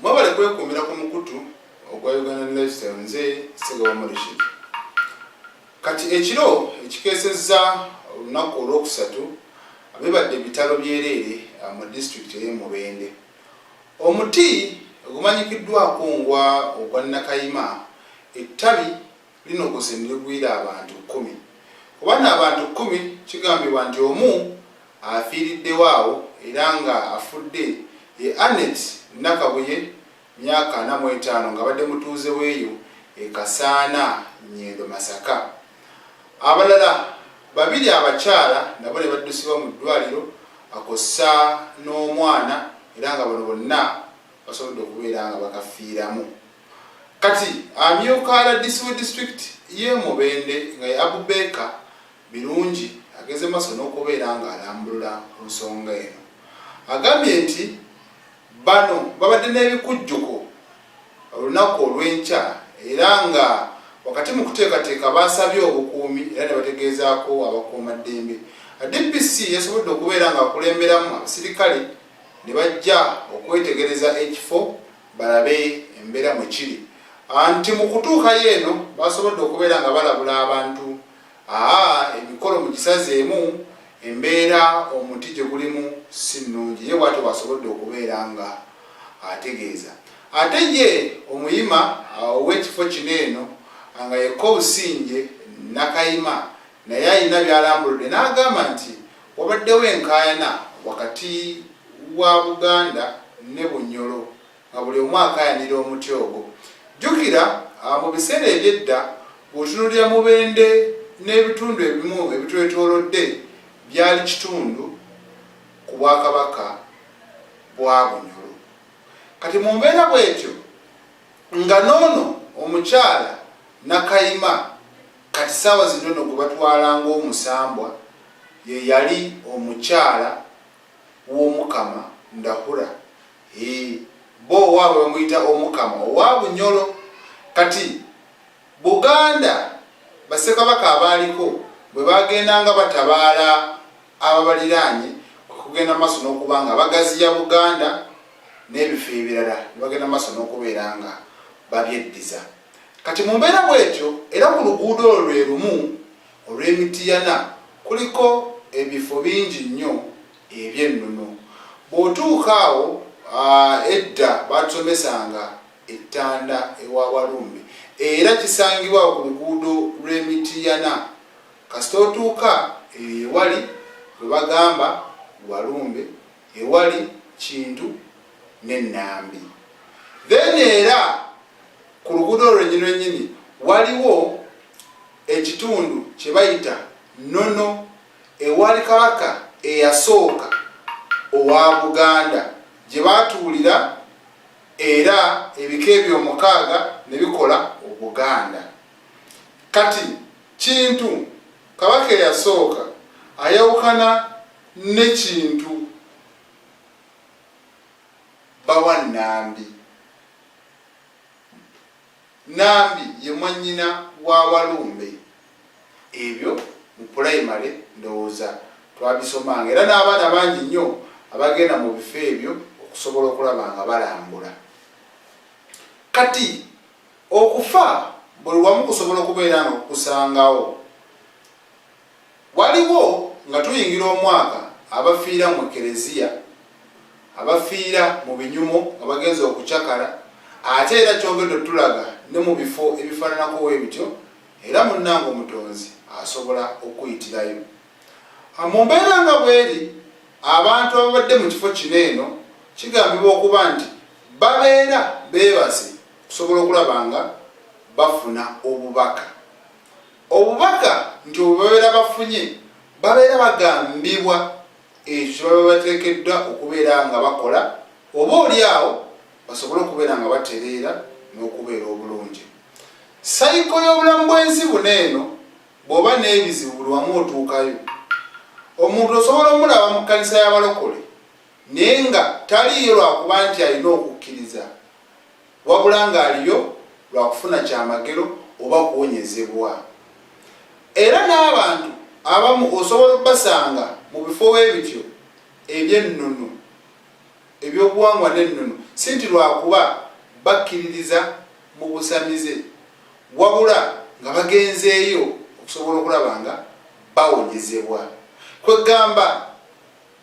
mwebale kwekuumira ku mukutu ogwa uganda lifestyle nze segawa morishid kati ekiro ekikeesezza olunaku olwokusatu bibadde ebitalo byereere ah, mu disitulikiti ey'emubende omuti ogumanyikiddwako ngwa ogwa nakayima ettabi linogoze ne ligwira abantu kkumi. Ku bano abantu kkumi kigambibwa nti omu afiiriddewo awo era nga afudde ye Annet Nakabuye myaka ana mu etaano ng'abadde mutuuze w'eyo e Kasaana Nyendo Masaka. Abalala babiri abakyala nabo ne baddusibwa mu ddwaliro akossa n'omwana era nga bano bonna basobodde okubeera nga bakafiiramu. Kati amyuka rdc we district ye Mubende nga ye Abubaker Birungi ageze maso nokubeera nga alambulula ku nsonga eno agambye nti bano babadde nebikujjuko olunaku olwenkya era nga wakati mu kuteekateeka baasabye obukuumi era nebategeezaako abakuuma ddembe DPC yasobodde okubeera nga akulemberamu abasirikale ne bajja okwetegereza ekifo balabe embeera mwe kiri anti mu kutuukayo eno basobodde okubeera nga balabula abantu aa emikolo mu gisazeemu embeera omuti gye gulimu si nnungi ye bwatyo bwasobodde okubeera nga ategeeza ate ye omuyima ow'ekifo kino eno nga yekka obusinje nakayima naye alina byalambuludde n'agamba nti Wabaddewo enkaayana wakati wa Buganda ne Bunyoro nga buli omu akaayanira omuti ogwo. Jjukira mu biseera eby'edda bw'otunuulira Mubende n'ebitundu ebimu ebitwetoolodde byali kitundu ku Bwakabaka bwa Bunyoro. Kati mu mbeera bw'etyo nga n'ono omukyala Nakayima Kati saawa zino no gwebatwala ngomusambwa yeyali omukyala womukama ndahura hee bo owabwe bamuyita omukama owa bunyolo kati buganda basekabaka abaaliko bwebagendanga batabaala ababaliranye kwekugenda maso nokubanga bagaziya buganda nebifo ebirala nebagenda maso nokubeera nga babyeddiza. Kati mu mbeera bwetyo era ku luguudo olwo lwe lumu olw'e Mityana kuliko ebifo bingi nnyo eby'ennono. Bw'otuuka awo, edda baatusomesanga ettanda ewa Walumbe era kisangibwa awo ku luguudo lw'e Mityana kasita otuuka eyo ewali gwe bagamba Walumbe, ewali Kintu ne Nambi then era ku luguudo olwo lwenyini lwenyini waliwo ekitundu kye bayita nono ewali kabaka eyasooka owa Buganda gye baatuulira era ebika ebyo omukaaga ne bikola Obuganda kati kintu kabaka eyasooka ayawukana ne kintu bawa Nambi. Nambi ye mwannyina wa Walumbe. Ebyo mu pulayimale ndowooza twabisomanga era n'abaana bangi nnyo abagenda mu bifo ebyo okusobola okulaba nga balambula. Kati okufa buli wamu kusobola okubeera nga kukusangawo. Waliwo, nga tuyingira omwaka, abafiira mu Eklezia, abafiira mu binyumo nga bagenze okucakala, ate era kyongedde otulaga ne mu bifo ebifaananako we bityo, era munnange Omutonzi asobola okukuyitirayo. Ha, mu mbeera nga bw'eri, abantu ababadde mu kifo kino eno, kigambibwa okuba nti babeera beebase okusobola okulaba nga bafuna Obubaka. Obubaka nti obwo babeera bafunye babeera bagambibwa ekyo kye baba bateekeddwa okubeera nga bakola oba oli awo basobole okubeera nga batereera n'okubeera obulungi. Sayiko y'obulamu bw'ensi buno eno bw'oba n'ebizibu buli wamu otuukayo. Omuntu osobola omulaba mu kkanisa y'abalokole naye nga taliiyo lwakuba nti alina okukkiriza. wabula ng'aliyo lwa kufuna kyamagero oba kuwonyezebwa. Era n'abantu abamu osobola okubasanga mu bifo we bityo eby'ennono, eby'obuwangwa n'ennono, si nti lwa kuba bakkiririza mu busamize, wabula nga bagenzeeyo okusobola okulaba nga bawonyezebwa. Kwe ggamba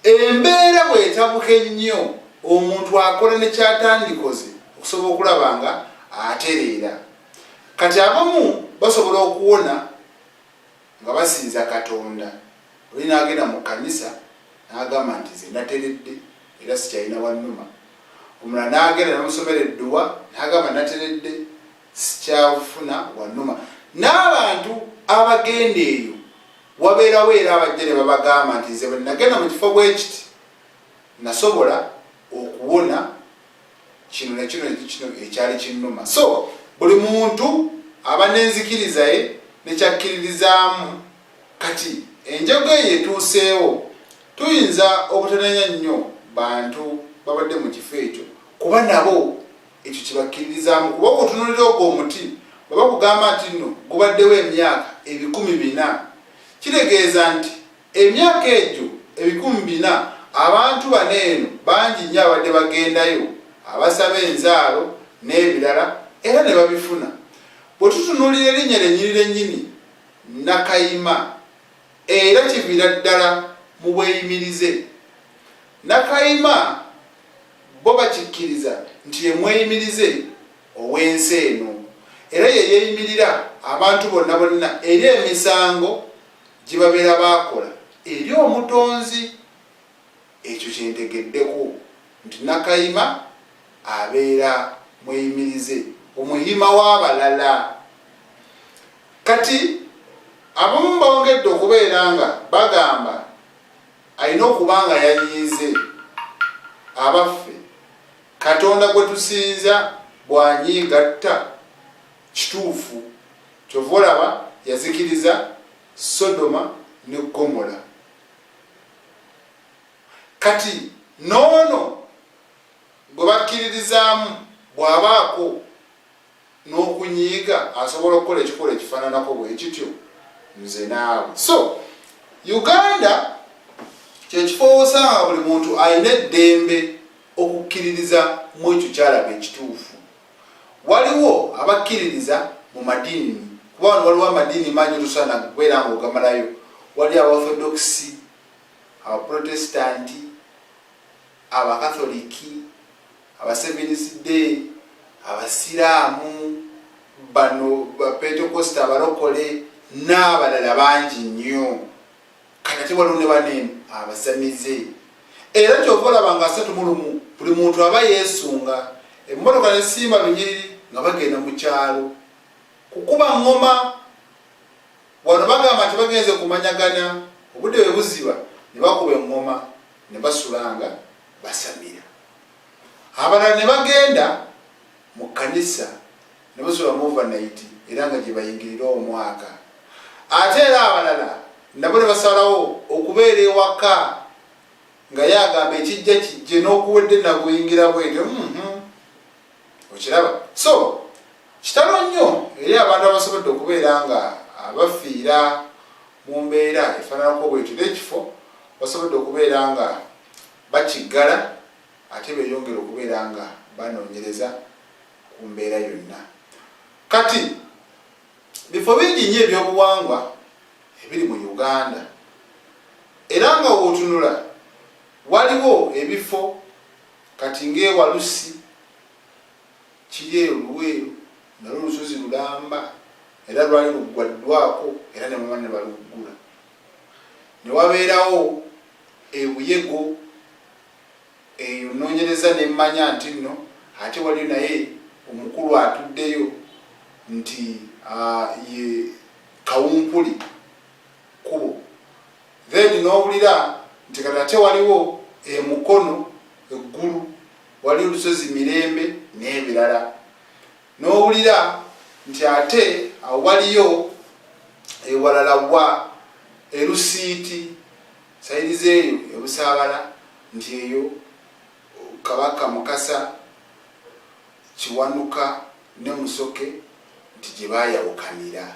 Embeera bw'etabuka ennyo omuntu akola ne ky'atandikoze okusobola okulaba nga atereera. Kati abamu basobola okuwona nga basinza Katonda. Oli n'agenda mu kkanisa n'agamba nti nze nateredde era sikyalina wannuma. Omulala n'agenda ne bamusomera edduwa n'agamba nateredde. sikyafuna wanuma n'abantu abagenda eyo wabeerawo era abajja ne babagamba nti nze bwenagenda mu kifo bwekiti nasobola okuwona kino nakino kino ekyali kinnuma so buli muntu aba n'enzikirizaye nekyakkiririzaamu kati enjogo eyo etuuseewo tuyinza obutananya nnyo bantu babadde mu kifo ekyo kuba nabo ekyo kibakkiririzaamu kuba okutunulira ogwo omuti bwe bakugamba nti nno gubaddewo emyaka ebikumi bina kitegeeza nti emyaka egyo ebikumi bina abantu bano eno bangi nnyo abadde bagendayo abasaba enzaalo n'ebirala era ne babifuna bwe tutunulira erinnya lyennyini lyennyini nakayima era kiviira ddala mu bweyimirize nakayima Bo bakikkiriza nti ye mweyimirize ow'ensi eno era ye yeeyimirira abantu bonna bonna eri emisango gye babeera baakola eri Omutonzi. Ekyo kye ntegeddeko nti Nakayima abeera mweyimirize, omuhima w'abalala. Kati abamu bongedde okubeera nga bagamba. alina okuba nga yanyiize abaffe katonda gwe tusinza bwanyiigatta kituufu kyova olaba yazikiriza sodoma ne gomola kati noono gwe bakkiririzaamu bw'abaako n'okunyiiga asobola okukola ekikolwa ekifananako bwekityo nze naawe so uganda kyekifo wosanga buli muntu alina eddembe okukkiririza mu ekyo kyalaba ekituufu waliwo abakkiririza mu madiini kuba wano waliwo amadiini mangi tusana kubeera nga ogamalayo wali abaorthodoxi abaprotestanti Abakatholiki, Abaseventh Day, Abasiraamu, bano Bapentekoste, Abalokole n'abalala bangi nnyo. Kati ate waliwo ne bano eno abasamize. Era kyova olaba nga asatu mu lumu buli muntu aba yeesunga emmotoka ne simba lunyiriri nga bagenda mu kyalo kukuba ngoma wano bagamba nti bagenze kumanyagana obudde bwe buziba ne bakuba engoma ne basulanga basamira abalala ne bagenda mu kkanisa ne basula mu overnayiti era nga gye bayingirira omwaka ate era abalala nabo ne basalawo okubeera ewaka nga ye agamba ekijja kijje n'okuwedde naguyingira bwetyo mm-hmm. okiraba so kitalo nnyo eri abantu abasobodde okubeera nga abafiira mu mbeera efaananako bwetyo n'ekifo basobodde okubeera nga bakiggala ate beyongera okubeera nga banoonyereza ku mbeera yonna kati bifo bingi nnyo ebyobuwangwa ebiri mu uganda era nga wootunula waliwo ebifo Kati ng'ewalusi kiri eyo Luweero nalwo lusozi lulamba era lwali luggwaddwako era ne bamala ne baluggula. Ne wabeerawo e Buyego eyo nnoonyereza ne mmanya nti nno ate waliyo naye omukulu atuddeyo nti ye kawumpuli kkubo Then nowulira nti kati ate waliwo e Mukono eggulu wali olusozi Mirembe n'ebirala nowulira nti ate awo waliyo ewalala wa erusiiti sayiri zeeyo ebusaabala nti eyo kabaka mukasa kiwanuka ne musoke nti gye baayawukanira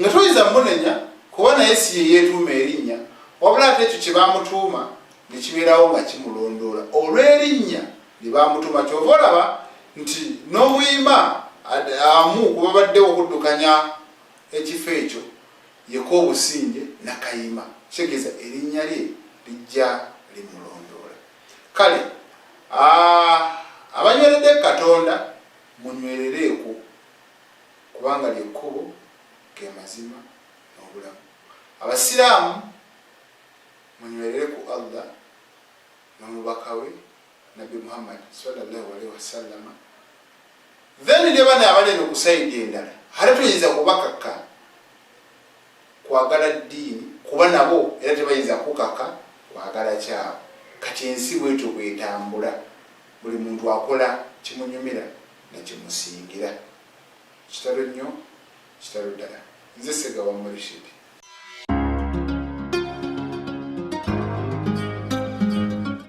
nga toyinza munenya kuba naye si ye yeetuuma erinnya wabula ate ekyo kye baamutuuma ne kibeerawo nga kimulondoola olw'erinnya lye baamutuuma kyova olaba nti n'omuyima amu ku babaddewo okuddukanya ekifo ekyo yeko obusinge nakayima kitegeeza erinnya lye lijja limulondoola kale abanywerede katonda munywerereeku kubanga lye kkubo, ge mazima n'obulamu. Abasiraamu munywerere ku Allah n'omubaka we Nabbi Muhammad swalla Allahu alaihi wasallama then ne bano abali eno ku sayidi endala ate tuyinza kubakakka kwagala ddiini kuba nabo era tebayinza kukaka kwagala kyabo kati ensi bwetyo bwetambula buli muntu akola kimunyumira nakyemusingira kitalo nnyo kitalo ddala nze segawa murishidi